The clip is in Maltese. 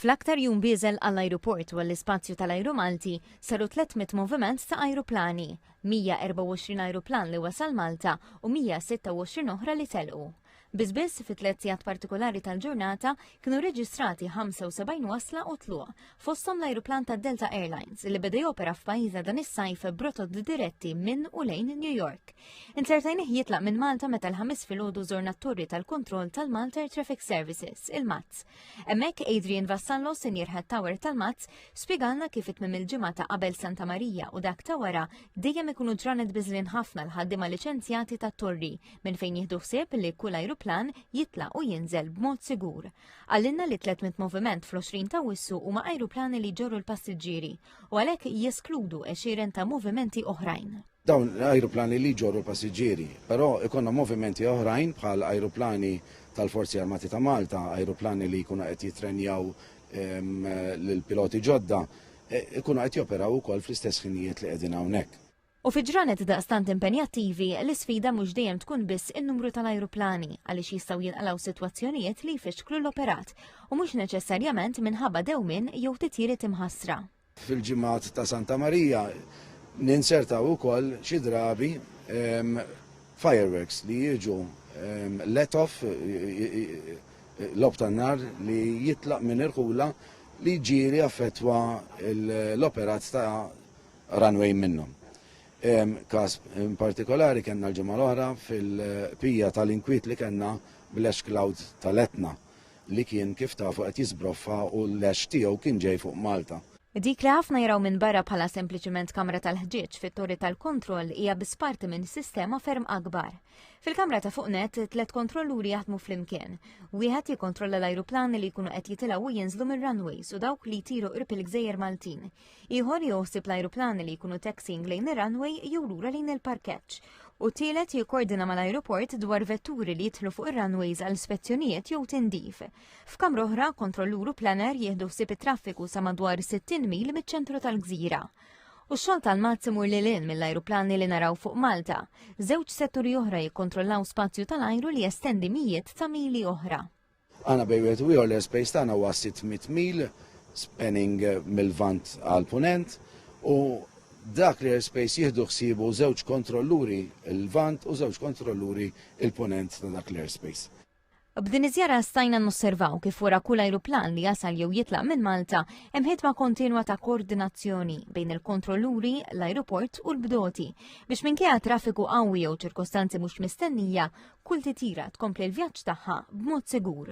Fl-aktar jum bieżel għall-ajruport u għall-ispazju tal-ajru Malti saru 300 moviment ta' ajruplani, 124 ajruplan li wasal Malta u 126 oħra li telqu. Biss biss fit-tliet sigħat partikolari tal-ġurnata kienu reġistrati 75 wasla u tluq, fosthom l-ajruplan ta' Delta Airlines li beda jopera f'pajjiżna dan is-sajf brotot diretti minn u lejn New York. Insertajnih jitlaq minn Malta meta l-ħamis filgħodu żorna t-torri tal-kontroll tal-Malta Air Traffic Services, il-MATS. Hemmhekk Adrian Vassallo, Senior Head Tower tal-MATS, spjegalna kif it mim il-ġimgħa ta' qabel Santa Marija u dak ta' wara dejjem ikunu ġranet biżlin ħafna l-ħaddiema liċenzjati tat-torri minn fejn jieħdu ħsieb li kull ajruplan jitlaq u jinżel b'mod sigur. Qalilna li 300 moviment fl-20 ta' wissu huma ajruplani li jġorru l-passiġġieri u għalhekk jeskludu għexieren ta' movimenti oħrajn. Dawn l-ajruplani li jġorru l-passiġġieri, però ikonna movimenti oħrajn bħal ajruplani tal-Forzi Armati ta' Malta, ajruplani li jkunu qed jittrenjaw ehm, lill-piloti ġodda, e, ikunu qed joperaw ukoll fl-istess ħinijiet li qegħdin hawnhekk. U fi ġranet daqstant impenjattivi, l-isfida mhux dejjem tkun biss in-numru tal-ajruplani, għaliex jistgħu jinqalgħu sitwazzjonijiet li jfixklu l-operat, u mhux neċessarjament minħabba dewmien jew titjiriet imħassra. Fil-ġimgħat ta' Santa Marija ninzertaw ukoll xi drabi ehm, fireworks li jiġu ehm, let off lob tan-nar li jitlaq minn irħula li ġieli affettwa l-operat ta' runway minnhom. Każ partikolari kellna l-ġimgħa l-oħra fil-qbija tal-inkwiet li kellna bl-ash cloud tal-Etna li kien kif tafu qed jiżbroffa u l-ash tiegħu kien ġej fuq Malta. Dik li ħafna jaraw minn barra bħala sempliċiment kamra tal-ħġieġ fit-torri tal-kontroll hija biss parti minn sistema ferm akbar. Fil-kamra ta' fuq net, tliet kontrolluri jaħdmu flimkien. Wieħed jikkontrolla l-ajruplani li jkunu qed jitilgħu u jinżlu mir-runways u dawk li jtiru qrib il-gżejjer Maltin. Ieħor joħsib l-ajruplani li jkunu taxiing lejn ir-runway jew lura lejn il-parkeġġ. U tielet jikkordina mal-ajruport dwar vetturi li jidħlu fuq ir-runways għal spezzjonijiet jew tindif. F'kamra oħra, kontrollur u planner jieħdu ħsieb it-traffiku sa madwar 60 mil miċ-ċentru tal-gżira. U xogħol tal-mazz imur lil hinn mill-ajruplani li naraw fuq Malta. Żewġ setturi oħra jikkontrollaw spazju tal-ajru li jestendi mijiet ta' mili oħra. Aħna bejn wieħed u ieħor l-airspace tagħna huwa 600 mil spanning mill-Lvant għall-Punent u dak l-airspace jieħdu ħsiebu żewġ kontrolluri l-Lvant u żewġ kontrolluri l-Punent ta' dak l-airspace. B'din iż-żjara stajna nosservaw kif wara kull ajruplan li jasal jew jitlaq minn Malta hemm ħidma kontinwa ta' koordinazzjoni bejn il-kontrolluri, l-ajruport u l-bdoti biex minkejja traffiku qawwi jew ċirkostanzi mhux mistennija Kull titjira tkompli l-vjaġġ tagħha b'mod sigur.